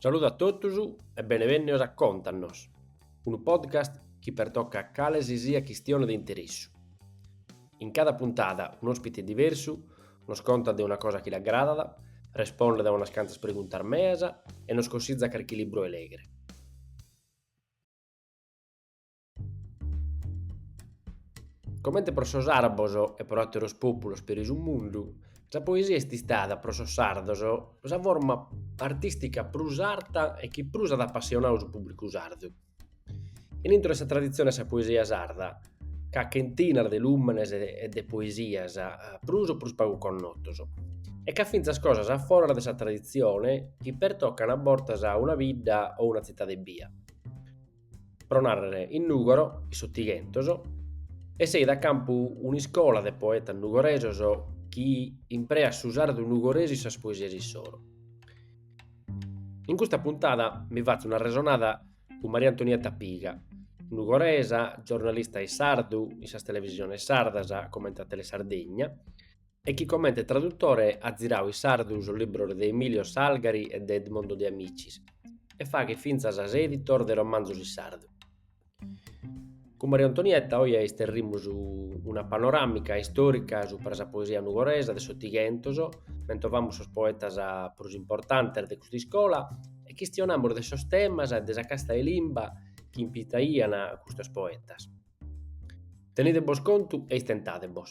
Saludu a totus e benevènnios a Contanos, unu podcast chi pertocat cale si siat chistione de interessu. In cada puntada un'òspite diversu nos contat de una cosa chi l'agradat, respondet a unas cantas preguntas meas e nos consitzat carchi libru 'e lègere. Comente pro sos àrabos e pro àteros pòpulos peri su mundu, sa poesia est istada pro sos sardos sa forma artìstica prus arta e chi prus at apassionadu su pùbricu sardu. In intro 'e sa traditzione 'e sa poesia sarda c'at chentinas de lùmenes e de poesias prus o prus pagu connotos e c'at fintzas cosas a foras de sa traditzione chi pertocan a bortas una bidda o una tzitade ebbia pro narrere in Nùgoro, in s'Otighentos, esseit a campu un'iscola de poetas nugoresos chi impreat su sardu nugoresu in sas poesias issoro. In custa puntada mi fatzo un'arresonada cun Maria Antonietta Piga, nugoresa, giornalista in sardu in sas televisiones sardas comente a Telesardegna e chi comente tradutore at ziradu in sardu sos libros de Emilio Salgari e de Edmondo De Amicis e faghet fintzas a s'editor de romanzos in sardu. Cun Maria Antonietta oje isterrimus una panoràmica istòrica supra sa poesia nugoresa de s'Otighentos, mentovamus sos poetas prus importantes de custa iscola e chistionamus de sos temas e de sa casta 'e limba chi impitaian custos poetas. Tenide-bos contu e istentade-bos.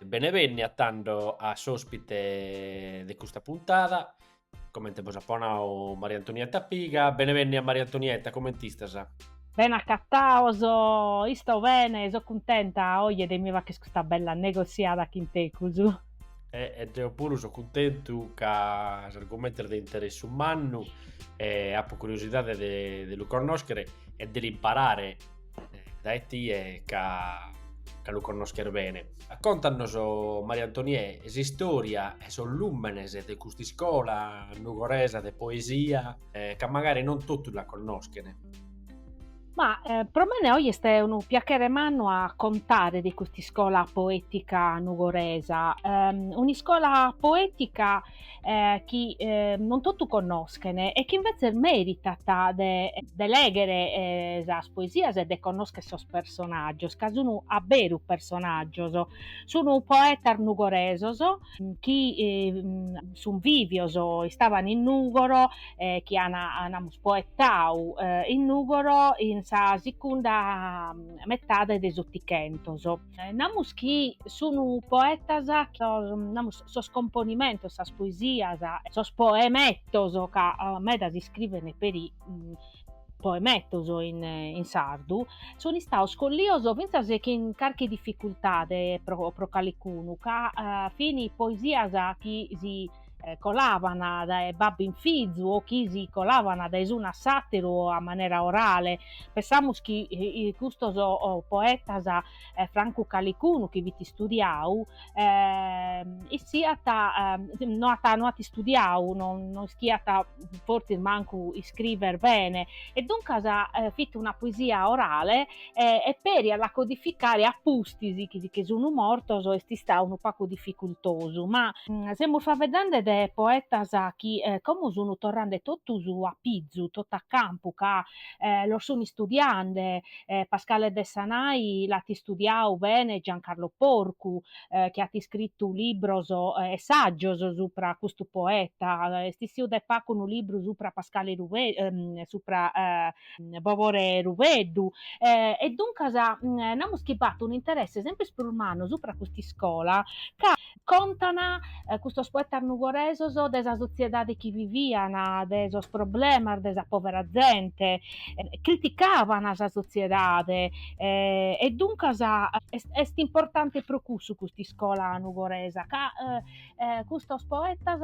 Bene bènnia tando a s'ospite de custa puntada, comente bos apo nau Maria Antonietta Piga, bene bènnia Maria Antonietta, comente istas? Bene acatados, isto bene, so cuntenta oje de mi faghere custa bella negossiada chin tecus. E, e deo puru so cuntentu ca s'argumentu est de interessu mannu e apo curiosidade de, de lu connoschere e de l'imparare dae tie ca, ca lu connosches bene. Contanos, Maria Antoniè, s'istòria e sos lùmenes de cust'iscola nugoresa de poesia, ca magari non totus la connoschent. Ma pro mene oje est unu piachere mannu a contare de cust'iscola poètica nugoresa, un'iscola poètica eh, chi eh, non totu connoschen e chi invetzes meritat de, de leghere eh, sas poesias e de connoschere sos personaggios, ca sun a beru personaggios, sun poetas nugoresos chi eh, sun vivios, istaban in Nugoro, eh, chi an, namus, poetau eh, in Nugoro in sa secunda metade de s'Otichentos. Eh, namus chi sunu poetas, sos, namus, sos componimentos, sas poesias, sos poemettos, ca eh, meda si scriven peri mm, poemettos in, in sardu, sun istados collidos fintzas chin carchi difficultade pro, pro calicunu, ca eh, fin poesias chi si colaban dae babbu in fizu o chi si colaban dae s'unu a s'àteru o a manera orale. Pensamus chi custos poetas, francu calicunu chi fit istudiadu, issos no ant no ant istudiadu, no no ischiant fortzis mancu iscriver bene e duncas fit una poesia orale e, e peri a la codificare a pustis chi si che sunu mortos est istadu unu pagu dificultosu, ma semus faeddende de poetas chi como sunu torrende totus a pizu, totus a campu, ca los sun istudiende, Pascale Dessanai l'at istudiadu bene Giancarlo Porcu chi at iscritu libros e saggios supra a custu poeta, est issiu de pagu unu libru supra Pascale Ru supra Bobore Rubeddu, E duncas namus chi b'at un'interesse sempris prus mannu supra cust'iscola ca, contan custos poetas nugoresos, de sa sotziedade chi vivian, de sos problemas de sa povera zente, criticaban sa sotziedade e duncas est est importante pro cussu cust'iscola nugoresa ca eh, custos poetas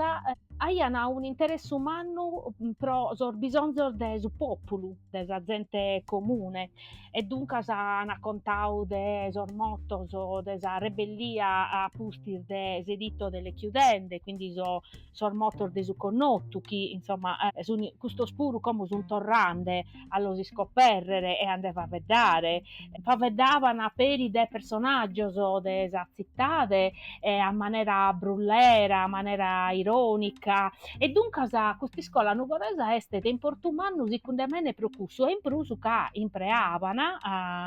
aian un'interessu mannu mm, pro sos bisonzos de su pòpulu, de sa zente comune, e duncas an contadu de sos motos de sa rebellia a pustis de s'editto delle chiudende, quindi so, sos motos de su connotu, chi insomma eh, sun, custos puru como sun torrande a los iscopèrrere e a nde faveddare. Faveddaban peri de personàgios de sa tzitade a manera brullera, a manera irònica e duncas cust'iscola nugoresa est de importu mannu sicunde mene pro cussu e in prus ca impreaban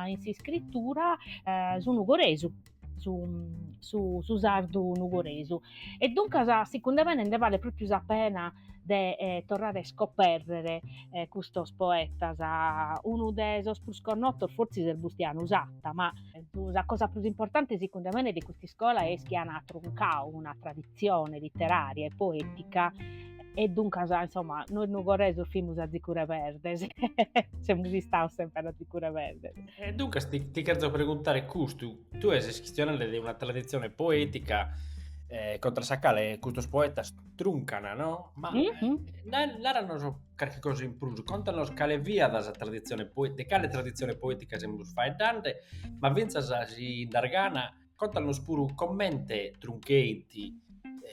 in s'iscritura su nugoresu. su, su, su sardu nugoresu e duncas sicunde mene nde balet pròpiu sa pena de eh, torrare a iscopèrrere eh, custos poetas, unu de sos prus connotos fortzis est Bustianu Satta, ma sa cosa prus importante sicunde mene de custa iscola est chi an truncadu una traditzione literària e poètica e duncas insomma nois nugoresos fimus atzica reberdes semus istados semper atzica reberdes E duncas ti, ti cherzo preguntare custu, tue ses chistionande de una traditzione poetica eh, contra sa cale custos poetas truncana, no? Ma eh, naranos carchi cosa in prus, contanos cale fiat sa traditzione poetica, de cale traditzione poetica semus faeddande, ma fintzas si ind'agatana Contanos puru comente truncant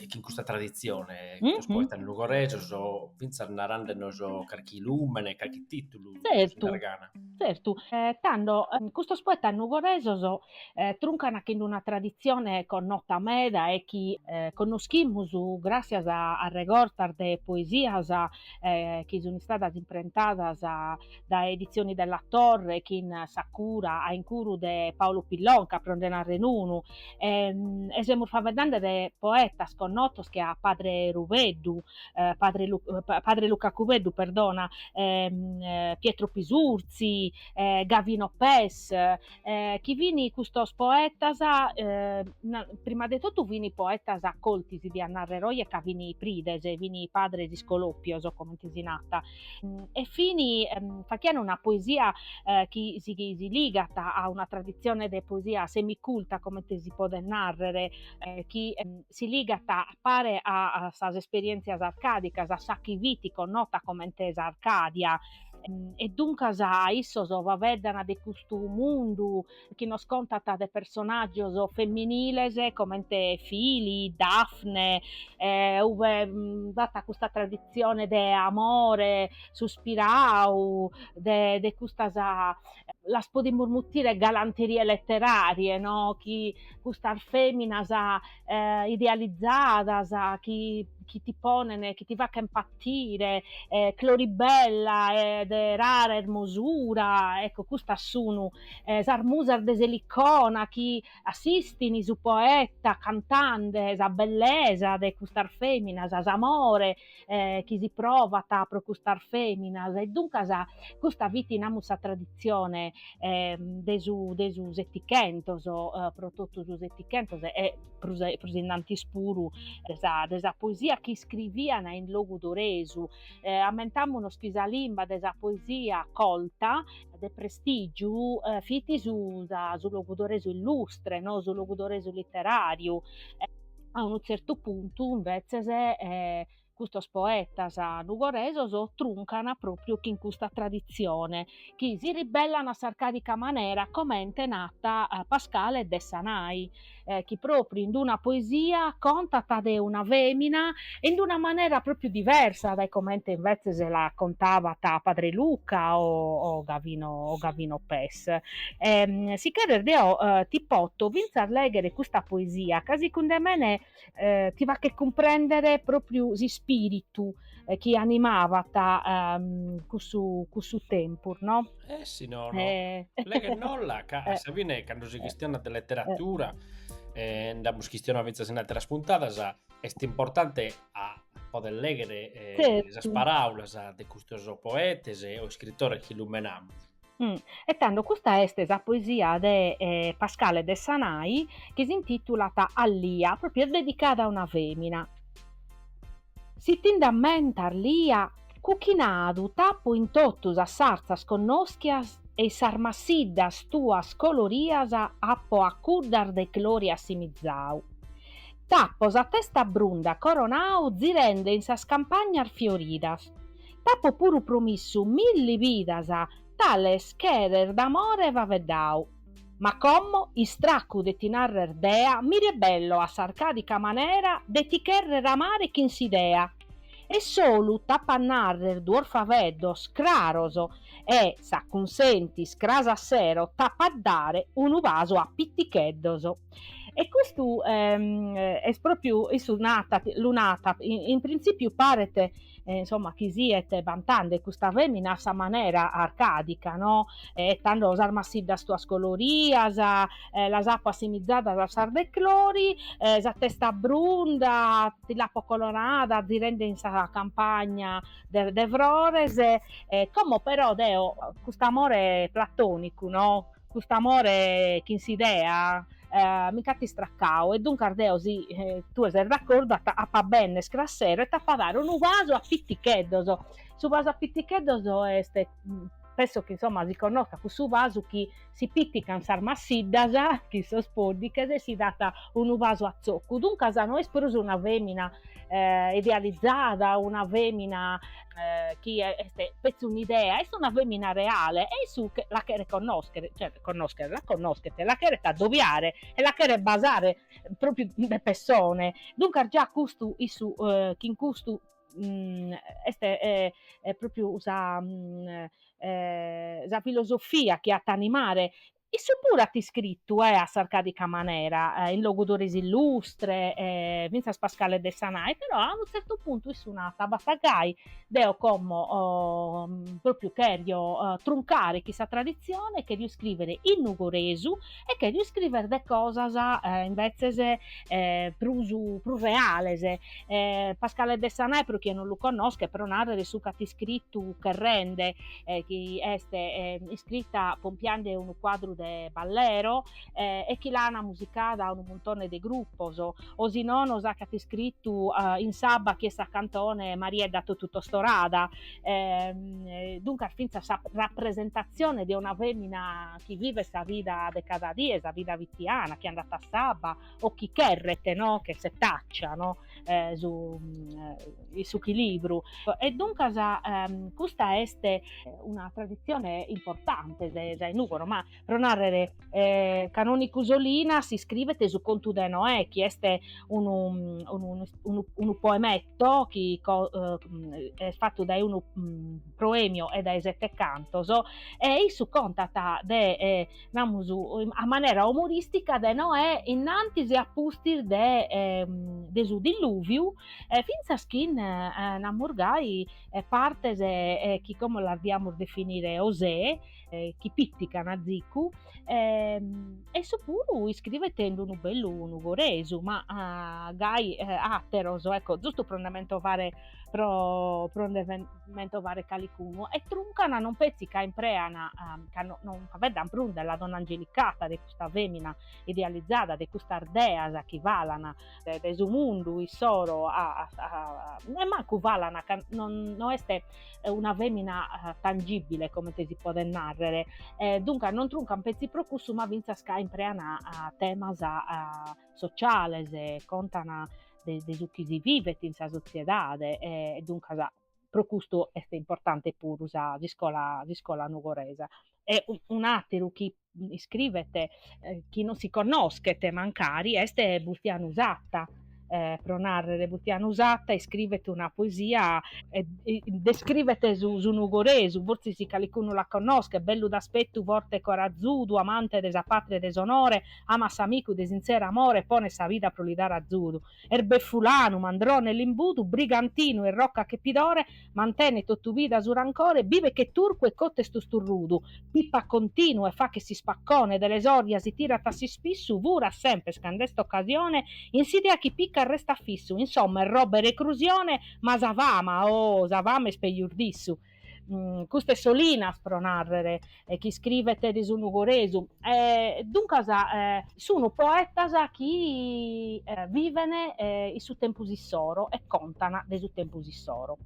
chin custa traditzione, sos poetas nugoresos, fintzas narandenos carchi lùmene, carchi tìtulu in sa sargana. Tzertu, tando custos poetas nugoresos truncant chin una traditzione connota meda e chi connoschimus gràssias a regortas de poesias chi sunt istadas imprentadas dae Editzioni Della Torre chin sa cura a incuru de Paolo Pillonca pro nde narrer unu e e semus faeddende de poetas connotos che a Padre Rubeddu Padre Padre Luca Cubeddu perdona Pietro Pisurzi Gavino Pes chi fin custos poetas prima de totu fin poetas colti si diat narrer oje ca fin prides fin padres iscolopios comente si narat Mm, e fini ehm, fachian una poesia eh, chi si, chi si ligat a una tradizione de poesia semiculta, comente si podet narrere, eh, chi ehm, si ligat a pare a, a sas esperienzias arcadicas, a sa chi fiti connota comente sa Arcadia, ehm, e duncas issos faveddan de custu mundu chi nos contat de personàgios feminiles comente Filli, Dafne, ue b'at custa traditzione de amore suspiradu, de de custas, las podimus mutire galanterie leteràrie no, chi custas fèminas eh, idealizzadas chi, chi, ti ponen, chi ti fachen patire, eh, Clori bella de rara ermosura, ecco, custas sunu eh, sas musas de s'Elicona chi assistini su poeta cantande sa bellesa de custas feminas, s'amore, chi si provat pro custas fèminas e duncas custa fit namus sa traditzione de su de su setichentos pro totu su setichentos e prus e prus in antis puru de sa de sa poesia chi iscrivian in logudoresu. Ammentamunos chi sa limba de sa poesia colta de prestìgiu fit su sa su logudoresu illustre o su logudoresu literàriu A unu tzertu puntu, imbetzes, custos poetas nugoresos truncan pròpriu chin custa traditzione, chi si ribellan a s'arcàdica manera, comente nat Pascale Dessanai, chi pròpriu in una poesia contat de una fèmina e in una manera pròpriu diversa dae comente imbetzes la contabat Padre Luca o Gavino o Gavino Lis. E, si cheres deo ti poto fintzas lèghere custa poesia ca secund'e mene ti faghet cumprèndere pròpriu s'ispìritu chi animabat cussu cussu tempus no. E si no no, leghenolla ca a sa fine cando si chistionat de leteratura e nd'amus chistionadu fintzas in àteras puntadas est importante a poder lèghere sas paràulas de custos poetes o iscritores chi lumenamus E tando custa est sa poesia de Pascale Dessanai chi s'intìtulat A Lia, pròpriu est dedicada a una fèmina. Si ti nd'ammentas, Lia, cuchinadu t'apo in totu sas sartzas connoschias e i sas massiddas tuas colorias apo a cuddas de Clori assimizadu. T'apo sa testa brunda coronadu zirende in sas campagnas fioridas, T'apo puru promissu milli bidas tales cheres d'amore faveddau. Ma como istraccu de ti narrer dea mi rebello a s'arcadica manera de ti cherrer amare chin s'idea e solu t'apo a narrer duos faveddos craros e s'acunsentis cras a sero t'apo a dare unu basu a piticheddos. E custu est pròpriu, issu nat, lu nat, in printzìpiu paret insomma chi siet bantende custa fèmina a sa manera arcàdica no, e tando sas massiddas tuas colorias, las apo assimizadas a sas de Clori, sa testa brunda ti l'apo colorada zirende in sa campagna de de frores, como però deo cust'amore platonicu no Cust'amore chin s'idea mi nc'at istracau e duncas deo, si tue ses d'acordu, apo a benner cras sero e t'apo a dare unu basu a piticheddos. Su basu a piticheddos est, penso chi insomma si connoscat, cussu basu chi si pitican sas massiddas chin sos poddighes e si dat unu basu a tzocu, duncas no est prus una femina idealizada, una femina eh, chi est petzi un'idea, est una femina reale e issu la cheret connoschere, cioè connoschere, la connoschet, la cheret adobiare e la cheret basare propriu de pessone, duncas già custu issu eh, chin custu mm, est eh, eh, propriu sa, mm, eh, sa filosofia chi at a animare Issu puru at iscritu e a s'arcàdica manera, in logudoresu illustre fintzas Pascale Dessanai, però a unu tzertu puntu issu nat, bastat gai, deo como pròpriu cherio truncare chin sa traditzione e cherio iscrìvere in nugoresu e cherio iscrìvere de cosas imbetzes prus prus reales, Pascale Dessanai pro chie non lu connoschet pro nàrrere su chi at iscritu Cherrende eh, chi est eh, iscrita pompiande unu quadru de Ballero eh, e chi l'ana musicada unu muntone de gruppos, o si no nos acat iscritu eh, in s'abba chi est sa cantone Mariedda totu tostorada, ehm, eh, duncas fintzas sa rappresentazione de una femina chi vivet sa vida de cada die, sa vida vitiana, chi andat a s'abba, o chi cherret no? che setaccia no? eh, su, eh, su chilibru e duncas ehm, custa est eh, una tradizione importante de sa in Nugoro ma pro narrere eh, Canonicu Solinas iscrivet su contu de Noè chi est unu, unu, unu, unu poemetto chi co, eh, est fattu dae unu mm, proemio e dae sette cantos e issu contat de eh, namus, a manera umoristica de Noè innantis e a pustis de, eh, de su dilluviu, eh, fintzas chin, eh, namus gai, eh, partes eh, chi como las diamus definire osè, eh, chi pìtican azicu, eh, e issu puru iscrivet in unu bellu nugoresu, ma, ah, gai, eh, àteros, ecco, zustu pro nde mentovare pro, pro nde mentovare calicunu, e truncana non petzi ca impreana, ca no, non faeddan prus della donna angelicata, de custa femina idealizada, de custas deas chi falan de, de su mundu issoro a, a, e mancu falan ca non, no est una femina tangibile comente si podet narrer, duncas non truncan petzi pro cussu ma fintzas ca impreana temas sociales, contan de, de su chi si vivet in sa sotziedade e, e duncas pro custu est importante puru sa, s'iscola, s'iscola nugoresa. E un'àteru chi iscrivet chi non si connoschet mancari est Bustianu Satta, eh, pro nàrrere, Bustianu Satta iscrivet una poesia e descrivet su, su nugoresu, fortzis calicunu la connoschet, bellu d'aspettu, forte e corazudu, amante de sa pàtria e de s'onore, Amat s'amicu de sintzeru amore e ponet sa vida pro li dare azudu. Est befulanu, mandrone e limbudu, brigantinu e irrocat che pidore, mantenet totu vida su rancore, bibet che turcu e cott'est tusturrudu, pipat continu e fachet s'ispaccone, de lesorja si tirat a s'ispissu, furat semper cand'est s'occasione, in s'idea chi picat restat fissu, insomma est robba 'e recrusione, ma sa fama, oh, sa fama est pejus d'issu. Cust'est Solinas, pro nàrrere, chi iscrivet de su nugoresu. Duncas sunt poetas chi viven in su tempus issoro e contan de su tempus issoro.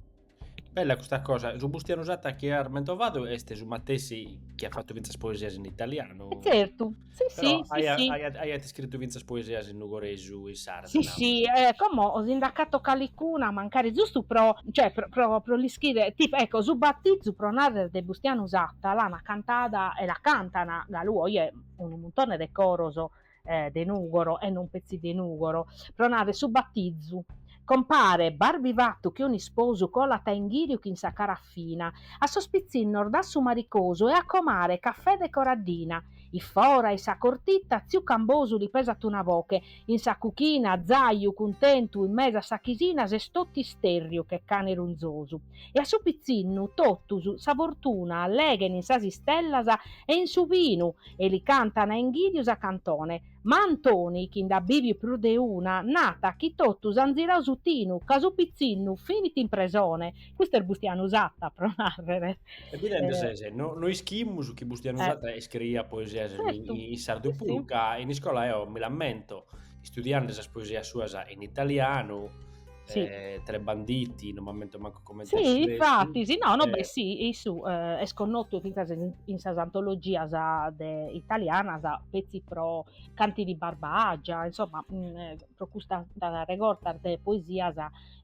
Bella custa cosa, su Bustianu Satta chi at mentovadu est su matessi chi at fatu fintzas poesias in italianu? Tzertu. Si, Però si, si, si. Aiat, aiat iscritu fintzas poesias in nugoresu, in sardu. Si, si, eh, como si nd'acato calicuna, mancari zustu pro, cioè, pro, pro, pro l'ischire, tipo, ecco, su batizu, pro narrer, de Bustianu Satta, l'ana cantada e la cantana galu oie unu muntone de coros eh, de Nugoro e non petzi de Nugoro, pro narrer su batizu, Compare, barbifatu che un'isposu colat a inghìriu chin sa carafina, a sos pitzinnos dat su maricosu e a comare cafè de Coraddina. In fora, in sa cortita, tziu Cambosu li pesat una boche, in sa cuchina, zàiu, cuntentu, in mesu a sa chisina s'est totu istèrriu che cane runzosu. E a su pitzinnu, totus, sa fortuna, leghen in sas istellas e in su binu e li cantan a inghìriu sa cantone, Ma Antoni, chi nd'at bìviu prus de una, nat chi totus ant zirau su tinu, ca su pitzinnu finit in presone. Custu est Bustianu Satta, pro nàrrere. E bidende ses, no ischimus chi Bustianu Satta iscriiat poesias in sardu puru, ca in iscola eo mi l'ammento, istudiande sas poesias suas in italianu, sì. eh, tre banditi, non m'ammento mancu come Sì, infatti, sì, no, no, eh. beh, sì, issu eh, est connotu fintzas in, in sas antologias de, italianas, petzi pro Canti di Barbagia, insomma, mh, mm, eh, pro custa regorta de poesias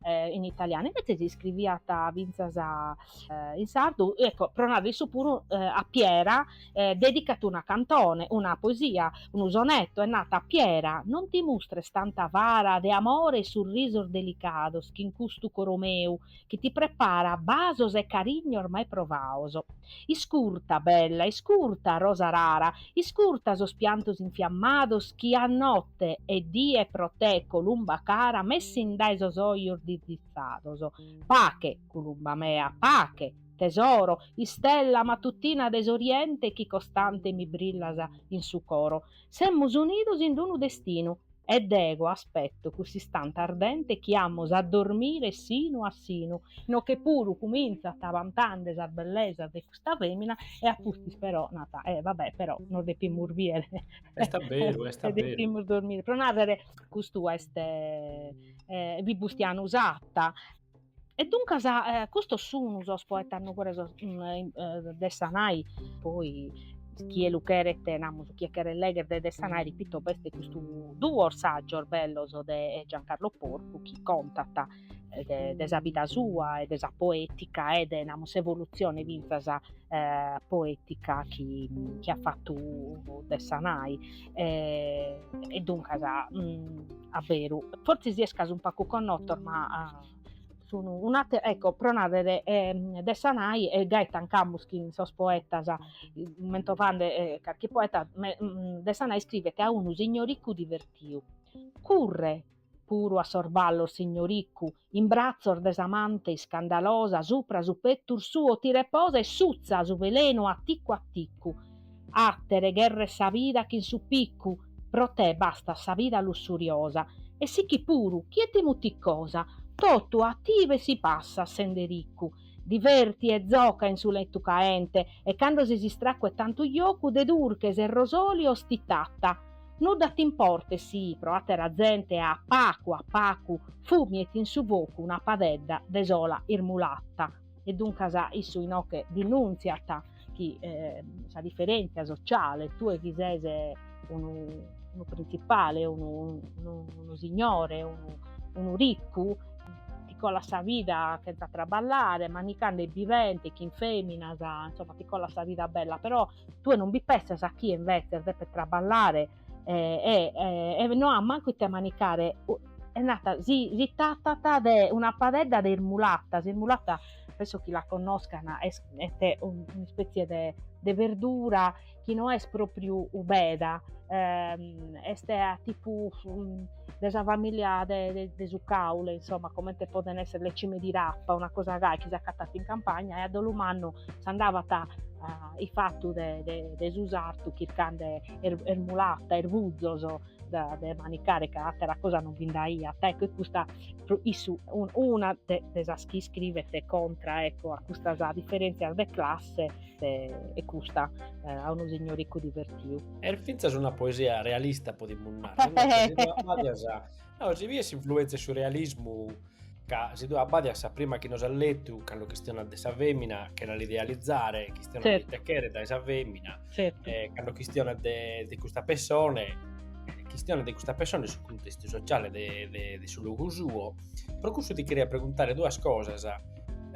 eh, in italianu. Invetzes iscriviat fintzas eh, in sardu, ecco, pro narrer issu puru eh, a Piera, e dedicat una cantone, una poesia, unu sonetu e nat, Piera, non ti mustres tantu avara de amore e surrisos delicados chin custu coro meu chi ti preparat basos e carignos mai provados. Iscurta, bella, iscurta, rosa rara, iscurta sos piantos infiammados chi a notte e die pro te, columba cara, m'essint dae sos ojos dirdizzados. Pache, columba mea, pache! Tesoro, istella matutina de s'Oriente chi costante mi brillas in su coro, semus unidos in d-unu destinu e dego aspetto cuss'istante ardente chi amus a dormire sinu a sinu. Inoche puru cumintzat bantande sas bellesas de custa femina e a pustis però nat, eh va bè però nos depimus bier Est a beru, est a beru. e depimus dormire, pro narrer custu est Bustianu Satta. E duncas custos sun sos poetas nugoresos, Dessanai, poi chie lu cheret, namus, chie cheret legher de Dessanai, repito, b'est custu duos sagios bellos de Giancarlo Porcu chi contat de de sa vida sua e de sa poetica e de, namus, s'evolutzione fintzas poetica chi chi at fatu Dessanai eh, e duncas mh, mm, a veru forzisi est ca sun pacu connotos ma uh, sunu un'ate, ecco, pro narrere eh, Dessanai e gai tancamus chin sos poetas, mentovande eh, carchi poeta, me, mm, Dessanai iscrivet a unu signoriccu divertiu, curre puru a sos ballos signoricu, in bratzos de s'amante iscandalosa supra su pettus suo ti reposa e suzza su velenu a ticu a ticu. Attere gherret sa vida chin su piccu, pro te bastat sa vida lussuriosa, e sichi puru chie ti mutit cosa, totu a tie si passat sende riccu, Diverti e zoca in su letu caente e cando ses istracu 'e tantu jocu de durches e rosolios ti tata. Nudda t'importet si, pro àtera zente, a pacu a pacu, fumiet in su focu una padedda de sola irmulata. E duncas issu inoghe dinùntziat. chi eh, sa diferentzia sociale, tue chi ses eh, unu, unu principale, unu, unu, unu signore, unu, unu riccu, ti colas sa vida chentza traballare, manicande e bivende, chin feminas, insomma, ti colas sa vida bella, però tue non bi pensas a chi invece depet traballare e, e, e, e no at mancu ite manicare e nat si, si tatat de una padedda de irmulata, s'irmulata penso chi la connoscan, est, est un'ispetzie de, de verdura chi no est propriu beda, eh, est tipu de sa famìlia de, de, de su caule, insomma, comente poden essere le cime di rapa, una cosa gai chi s'acatat in campagna, e a dolu mannu s'andabat a, a ifatu de, de, de su sartu chircande er, ermulata, erbuzos, da, de manicare ca atera cosa non bi nd'aiat ecco e custa issu una de, de sas chi iscrivet contra ecco a custas differenzias de classe est custa eh, a unu signoricu divertiu. Est fintzas una poesia realista, podimus narrer, no? abbadias a... No, si viet s'influenza 'e su realismu ca si tue abbadias sa prima chi nos at letu, cando chistionat de sa femina, chena l'idealizzare, chistionat certo. de ite cheret dae sa femina, certo. eh, cando chistionat de, de custa persone, chistionat de custa persone e su contestu sociale de, de, de su logu suo, pro cussu ti cheria preguntare duas cosas.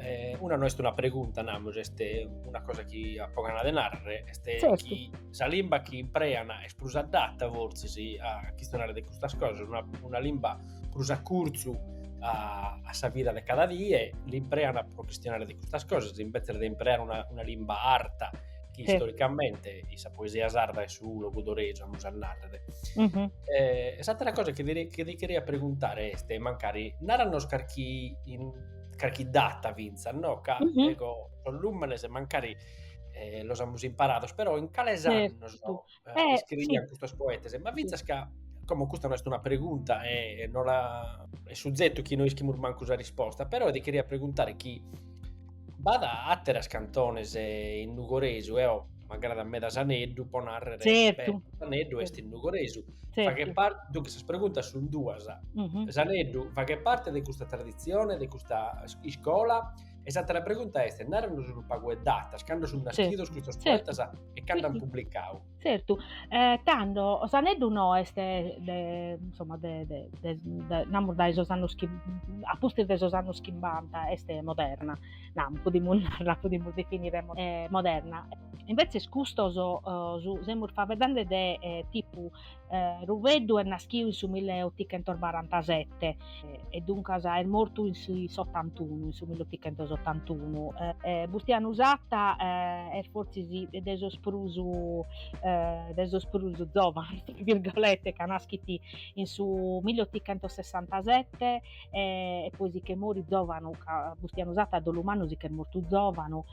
Eh, una non est una pregunta, namus, est una cosa chi apo gana de narrere, est certo. chi sa limba chi imprean est prus adatta, forzisi a chistionare de custas cosas, una, una limba prus a curzu a, a sa vida de cada die, l'imprean pro chistionare de custas cosas, invece de impreare una, una limba arta, chi sì. storicamente in sa poesia sarda est su logudoresu, amus a narrer. Mm-hmm. Eh, s'atera cosa chi ti, chi ti cheria preguntare est, mancari, naranos carchi, in, carchi data finzas, no? Ca, mm-hmm. ego, sos lumenes mancari eh, los amus imparados, però in cales annos... eh, eh scrivian sì. custos poetas, ma fintzas ca como custa non est una pregunta e, e non la... è suzetu chi non ischimus mancu sa risposta, però ti cheria preguntare chi b'at àteras cantones eh, in nugoresu, eo eh, m'agrada meda S'aneddu, po narrere certo. S'aneddu est in nugoresu. Certo. Faghet parte, duncas, sas preguntas sunt duas. Mm -hmm. S'aneddu faghet parte de custa tradizione, de custa iscola, E s'àtera pregunta est, nàranos unu pagu 'e datas, cando sunt naschidos custos poetas e cando ant publicau. Tzertu, tando S'aneddu no est de, insomma, de de de namus dae sos annos chi, a pustis de sos annos chimbanta est moderna, namus, podimus narrer, la podimus definire moderna. Imbetzes custos semus faveddande de tipu Eh, Rubeddu est naschiu in su milleotichentobarantasette e duncas est mortu in s'ottantunu, in su milleotichentosottantunu. Eh, Bustianu Satta eh, est fortzis de sos prus eh, de sos prus zovanos, tra virgolette, ca naschit in su milleotichentossessantasette e poi si che morit zovanu, ca Bustianu Satta a dolu mannu si che est mortu zovanu,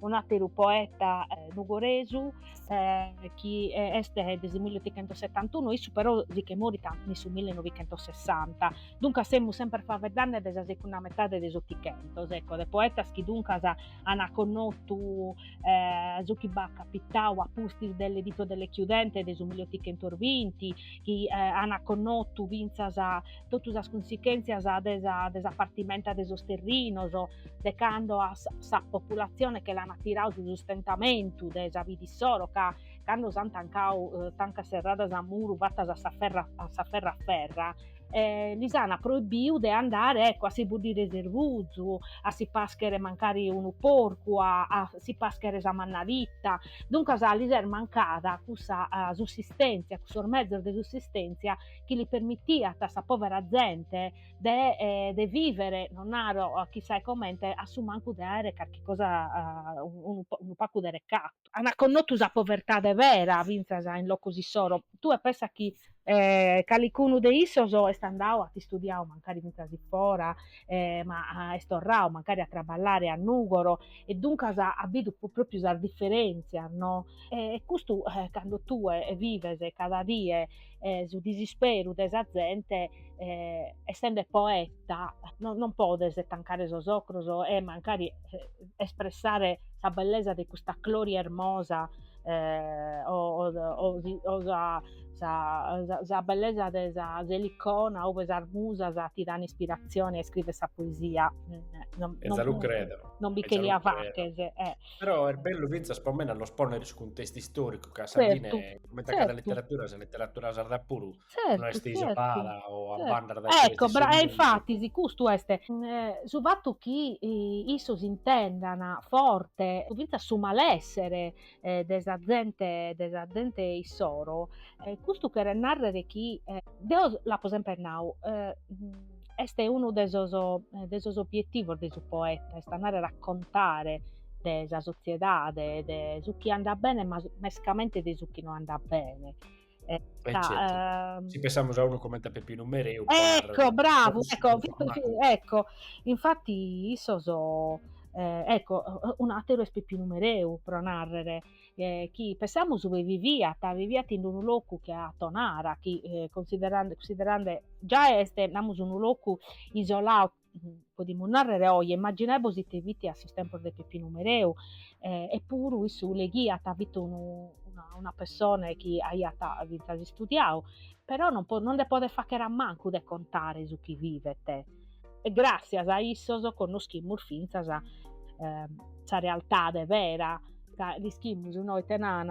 un'àteru poeta nugoresu chi est de su milleotichentossetantunu, issu però si che morit in su millenovichentosessanta, duncas semus semper faveddande de sa segunda metade de s'Otichentos, ecco, de poetas chi duncas an connotu su chi b'at capitau a pustis de L'editto delle chiudende de su milliotichentos binti, chi an connotu fintzas totu sas cunsichèntzias de sa de sa partimenta de sos terrinos, de cando a sa populatzione che l'an tirau su sustentamentu de sa vida issoro, ca cando s'an tancau tancas serradas a muru fatas a s'aferra a s'aferra aferra e lis an proibiu de andare ecco a si puddire s'ervuzu, a si pàschere mancari unu porcu, a a si pàschere sa mannalita, duncas lis est mancada cussa sussistèntzia, cussos mezos de sussistèntzia chi li permitiat a sa povera zente de, eh, de vivere, non naro a chissà e comente, a su mancu de aere carchi cosa, eh, unu, unu pagu de recatu. Ant connotu sa povertade vera fintzas in locos issoro. Tue pensas chi, eh, calicunu de issos est andau, at istudiau mancari fintzas in fora, eh, ma est torrau mancari a traballare a Nùgoro e duncas at bidu pròpriu sas diferèntzias, no? E custu, eh, cando tue vives cada die eh, su disisperu de sa zente eh, essende poeta no, non podes tancare sos ocros e mancari eh, espressare sa bellesa de custa Clori ermosa eh, o, o, o, o sa, sa, sa, sa, bellesa de s'Elicona ube sas musas ti dan ispirazione a iscrìvere sa poesia mm, non, non, non, non bi che la faches eh. Però est bellu fintzas po mene a nos pònnere su cuntestu istòricu, ca a sa fine, Tzertu, comente a cada tzertu, leteradura, sa leteradura sarda puru non tzertu, est tzertu, isolada o a tzertu. banda dae su Ecco, e infatis custu est eh, su fatu chi eh, issos intendan forte fintzas su malessere eh, de sa zente, de sa zente issoro, eh, custu cheret nàrrere chi eh, deo l'apo semper nau, eh, Est unu de sos de sos obietivos de su poeta, est andare a contare de sa sotziedade, de su chi andat bene ma mescamente de su chi no andat bene. E certu, si pensamus a unu comente a Peppinu Mereu. Ecco, bravu, ecco, ecco, infatti issos, ecco, un'ateru est Peppinu Mereu pro narrer, eh, chi pensamus viviat, viviat in unu locu che a Tonara, chi eh, considerande, considerande già est, namus, unu locu isoladu, mm, podimus narrere oje, immaginaebos ite fit a sos tempos de Peppinu Mereu, eh, eppuru issu leghiat, fit unu, una, una persone chi aiat fintzas istudiadu, però non, non nde podet fagher a mancu de contare su chi vivet, e gràtzias a issos connoschimus fintzas sa realtade vera, ca l'ischimus no ite nant,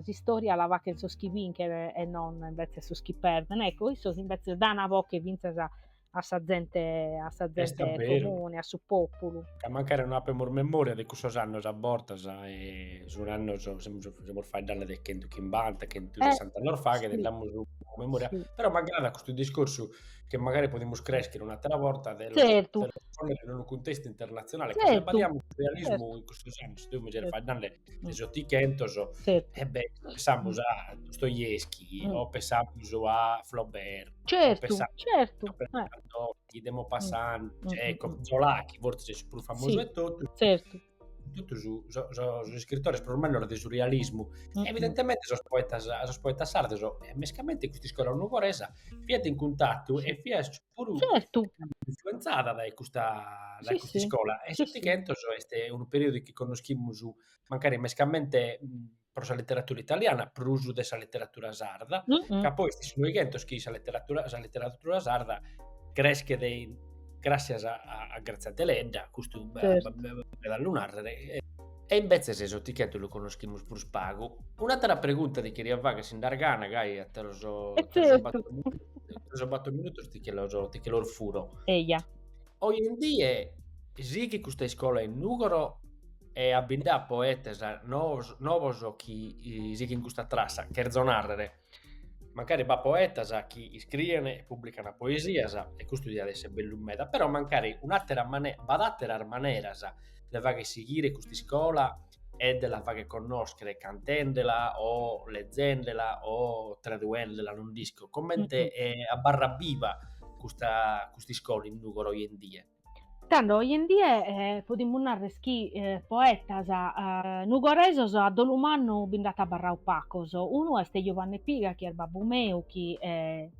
s'istòria la faghen sos chi binchen e non imbetzes sos chi perden, ecco, issos imbetzes dana a boghe fintzas a a sa zente a sa zente comune, a su pòpulu. Ca mancari non apemus memòria de cussos annos a bortas e sun annos, semus semus faeddende de chentu chimbanta, chentu sessanta annos faghet, nde amus memòria, però m'agradat custu discorsu chi magari podimus crescher un'atera borta de lo ponner in unu cuntestu internatzionale, ca si abbaidamus su realismu in custos annos, deo mi zerriat faeddende de s'otighentos, e beh, pensamus a Dostoevsky, o pensamus a Flaubert, o pensamus a de Maupassant, Chekhov, Zola, chi fortzis est su prus famosu 'e totus, totu su, so, sos iscritores prus mannos de su realismu, mm-hmm. evidentemente sos poetas, sos poetas sardos, e mescamente custa iscola nugoresa, fiat in cuntatu e fiat puru certo. influenzada da custa, da sì, custa sì. iscola. E sì, s'Otighentos sì. est unu periodu chi conoschimus mancari mescamente pro sa literatura italiana prus de sa literatura sarda, ca poi est su noighentos chi sa literatura, sa literatura sarda creschet gràssias a a Grazia Deledda, custu b'at b'at a lu nàrrere, e imbetzes s'Otichentu lu connoschimus prus pagu. Un'àtera pregunta ti cheria fàghere, si nd'as gana, gai a sos sos bator minutos ti che los ti che los furo. Eja. Oi in die sighit custa iscola in Nùgoro e a bi nd'at poetas noos, novos chi sighint custa trassa, cherzo narrer, mancari b'at poetas chi iscrient e publicant poesias e custu diat esser bellu meda, però mancari un'attera mane- b'at atteras maneras de fagher sighire custa iscola e de la fagher connoschere cantendela o lezzendela o traduendela, non nd'isco, comente abarrat biva custa custa iscola in Nugoro oje in die? Tando oje in die podimus narrer chi poetas nugoresos a dolu mannu bi nd'ant abarrau pacos. Unu est Giuvanne Piga chi est babbu meu chi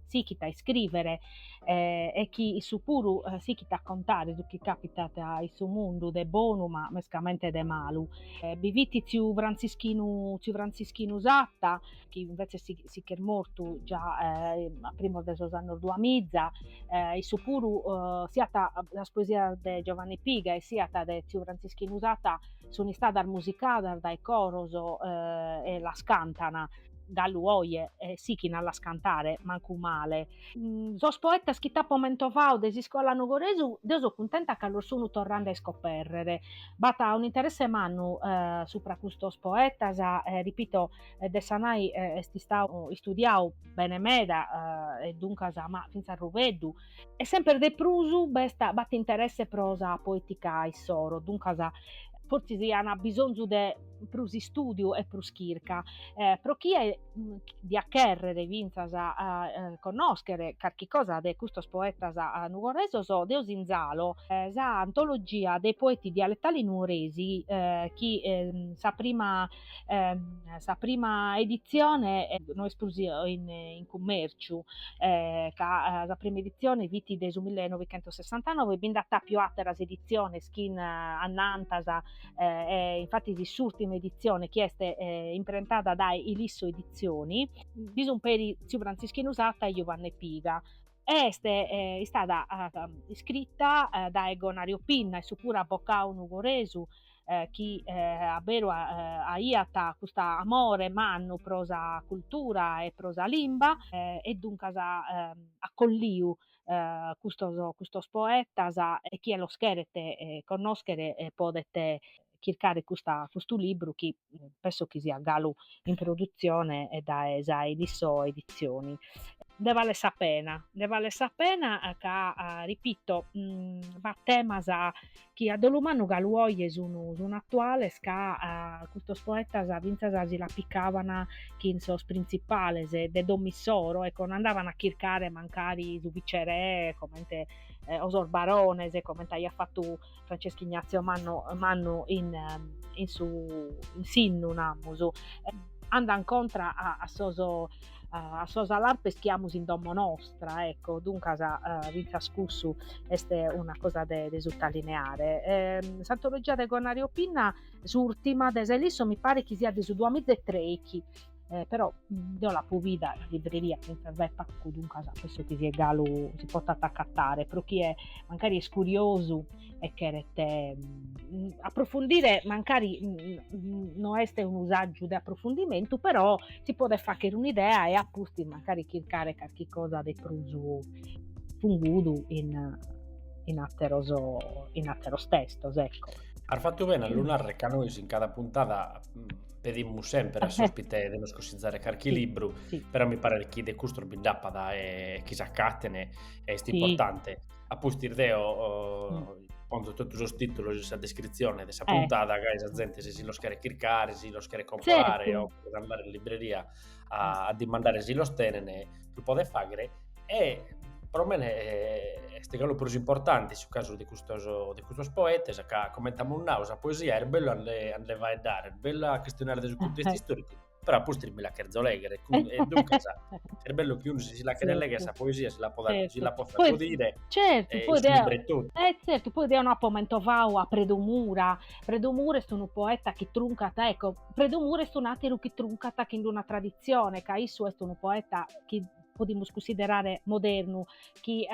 sichit a iscrìvere e chi issu puru sichit a contare su chi càpitat in su mundu de bonu ma mescamente de malu. Bi fit tziu Frantzischinu tziu Frantzischinu Satta chi invece si, si ch'est mortu già eh, a primos de sos annos duamiza, eh, issu puru eh, siat sas poesias de Giovanni Piga e siat de Tziu Franzischinu Satta sunt istadas musicadas dae coros eh, e las cantan galu oje e sichint a las cantare, mancu male. Mm, sos poetas chi t'apo mentovadu de s'iscola nugoresa, deo so cuntenta ca los sun torrende a iscoperrere. B'at un'interesse mannu eh, supra custos poetas, eh, ripito, e Dessanai est istau istudiau bene meda e duncas ma fintzas Rubeddu, e semper de prus b'est b'at interesse pro sa poetica issoro, duncas fortzis an bisonzu de prus istudiu e prus chirca, pro chie diat cherrer fintzas connoscher carchi cosa de custos poetas nugoresos deo sinzalo sa Antologia dei poeti dialettali nuoresi chi sa prima sa prima editzione eh, no est prus in, in cummèrciu, eh, ca sa prima editzione fit de su 1969, bi nd'at apiu àteras editziones chin annantas, eh, infatis s'ùrtima editzione chi est imprentada dae Ilisso Edizioni, bi sun peri tziu Frantzischinu Satta e Giuvanne Piga, e est istada iscrita dae Gonario Pinna issu puru abbocau nugoresu eh, chi eh, a beru aiat custa amore mannu pro sa cultura e pro sa limba eh, e duncas eh, at colliu eh, custos, custos poetas e chie los cheret eh, connoschere eh, podet chircare custa, custu libru chi mm, penso chi siat galu in produtzione e dae sa Ilisso Edizioni. Nde vale sa pena, nde vale sa pena eh, ca, eh, ripito, mh, mm, b'at temas chi a dolu mannu galu oje sunu sunu atuales ca custos poetas fintzas si la picaban chin sos printzipales de dom'issoro, ecco, no andaban a chircare mancari su vicerè comente o sos barones comente aiat fatu Francesco Ignazio Man Mannu in in su in s'innu namus, andan contra a a sos uh, a sos alarpes chi amus in domo nostra, ecco, duncas uh, fintzas cussu est una cosa de, de suttalineare. Eh, S'antologia de Gonario Pinna, s'urtima de s'Ilisso, mi pare chi sia de su 2013, eh, però mm, deo l'apo vida in libreria fintzas dae pacu, duncas penso chi sia galu si potat accattare, pro chie mancari est curiosu, e cheret mm, approfundire mancari mm, mm, no est unu saggiu de approfundimentu, però si podet fachere un'idea e a pustis mancari chircare carchi cosa de prus fungudu in, in, atteros, in atteros testos. Ecco. As fattu bene a lu narrer ca nois in cada puntada pedimus sempre a s'ospite de nos cossizzare carchi libru, sì. però mi paret chi de custos bi nd'appat e chi s'accatten est sì. importante. a pustis deo mm. ponzo totu sos titulos in sa descritzione de sa eh. puntada, eh. gai sa zente si si los cheret chircare, si los cheret comporare, certo. o cheret andare in libreria a, a dimandare si los tenen, e lu podet faghere, e pro mene eh, est galu prus importante su casu de custos, de custos poetas, ca comente amus nau, sa poesia est bellu a nde, a nde faeddare, est bellu a chistionare de su contestu eh. istoricu, però a pustis mi la cherzo legher, e duncas est bellu chi unu si si la cheret legher sa poesia si la podet si la potzat godire e is libros totu. E tzertu, poi deo no apo mentovau a Predu Mura, Predu Mura est unu poeta chi truncat, ecco, Predu Mura est un'àteru chi truncat chin d'una traditzione, ca issu est unu poeta chi podimus cunsiderare modernu, chi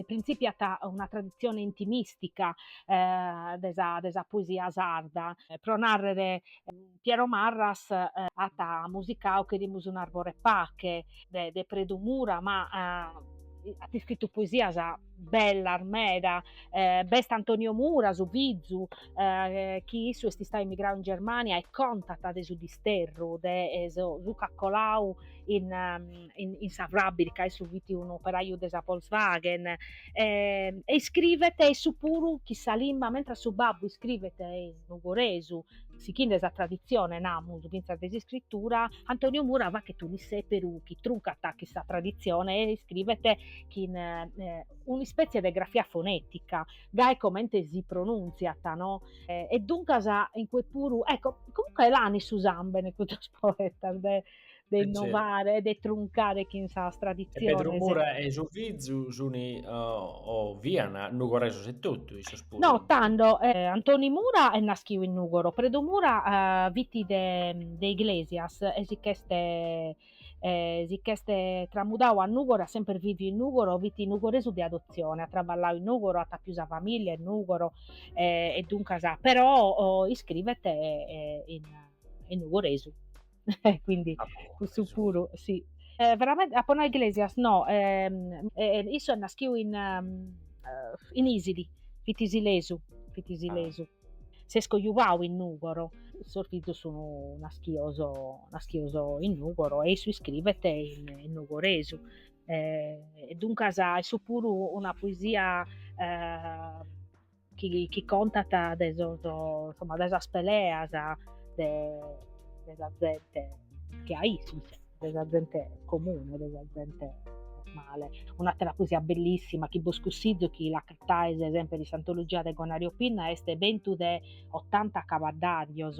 printzipiat una traditzione intimìstica de sa de sa poesia sarda, pro nàrrere Piero Marras at musicau Cherimus un'arbore 'e pache de de Predu Mura, ma at iscritu poesias bellas meda, b'est Antonio Mura, su fizu, chi issu est istau emigrau in Germania e contat de su disterru de su cacolau in in sa frabbica, issu fit unu operaju de sa Volkswagen e iscrivet issu puru chin sa limba, mentras su babbu iscrivet in nugoresu Sichinde sa traditzione, namus, fintzas de s'iscritura, Antoniu Mura fachet un'issèperu chi truncat chin sa traditzione e iscribet chin un'ispètzie de grafia fonètica, gai comente si pronuntziat no? E duncas in cue puru, ecco, comunque l'an in su sambene custos poetas de de eh, innovare, certo. de truncare chin sas traditziones. E Predu Mura e su fizu sun uh, o fian nugoresos e totu, issos puru. No, tando, eh, Antoni Mura est naschiu in Nugoro, Predu Mura uh, fiti de, de Iglesias e si ch'este eh, si ch'este tramudau a Nugoro, at semper viviu in Nugoro, fiti nugoresu de adotzione, at traballau in Nugoro, at apiu sa familia in Nugoro, eh, e duncas, però oh, iscrivet eh, in, in nugoresu. Eh, quindi ah, cussu puru, sì. Eh, veramente, apo nau Iglesias, no, ehm, eh, issu est naschiu in, um, in Isili, fit isilesu, fit isilesu. Ah. S'est cojuvau in Nugoro, sos fizos sun naschios, naschios in Nugoro e issu iscrivet in, in Nugoresu. Eh, e duncas, issu puru una poesia... Eh, chi, chi contat de, sos, insomma, de sas peleas de, de sa zente che a issu, de sa zente comune, de sa zente normale. Un'atera poesia bellissima chi bos cussizu chi l'acattaes sempre in s'antologia de Gonario Pinna est Bentu de ottanta cabaddarios,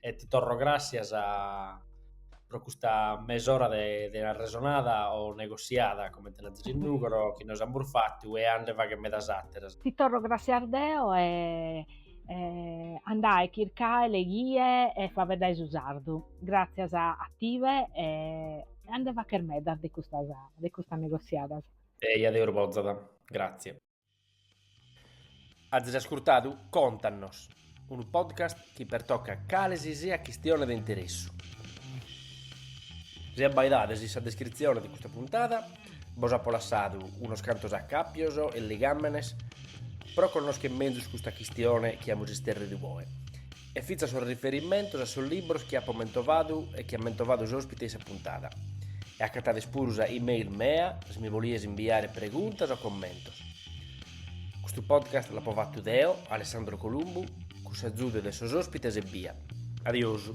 e ti torro gràssias pro custa mesora de de arresonada o negosiada, comente l'azis in Nùgoro, chi nois amus fatu e a nde fagher medas àteras. Ti torro gràssias deo e e andae chircae leghie e faeddae su sardu. Gràssias a tie e a nde fagher medas de custas de custas negosiadas. Eja, Deus bozat. Gràtzias. Azis ascurtadu Contannos, unu podcast chi pertocat cale si siat chistione de interessu. Si abbaidades in sa descritzione de custa puntada bos apo lassadu unos cantos acàpios e ligàmenes pro connoschere mezus custa chistione chi amus isterridu oe. e fintzas sos riferimentos a sos libros chi apo mentovadu e chi at mentovadu s'òspite in sa puntada. E acatades puru sa e-mail mea si mi bolides imbiare preguntas o commentos. Custu podcast l'apo fatu deo, Alessandro Columbu, cun s'agiudu de sos òspites ebbia. Adiosu.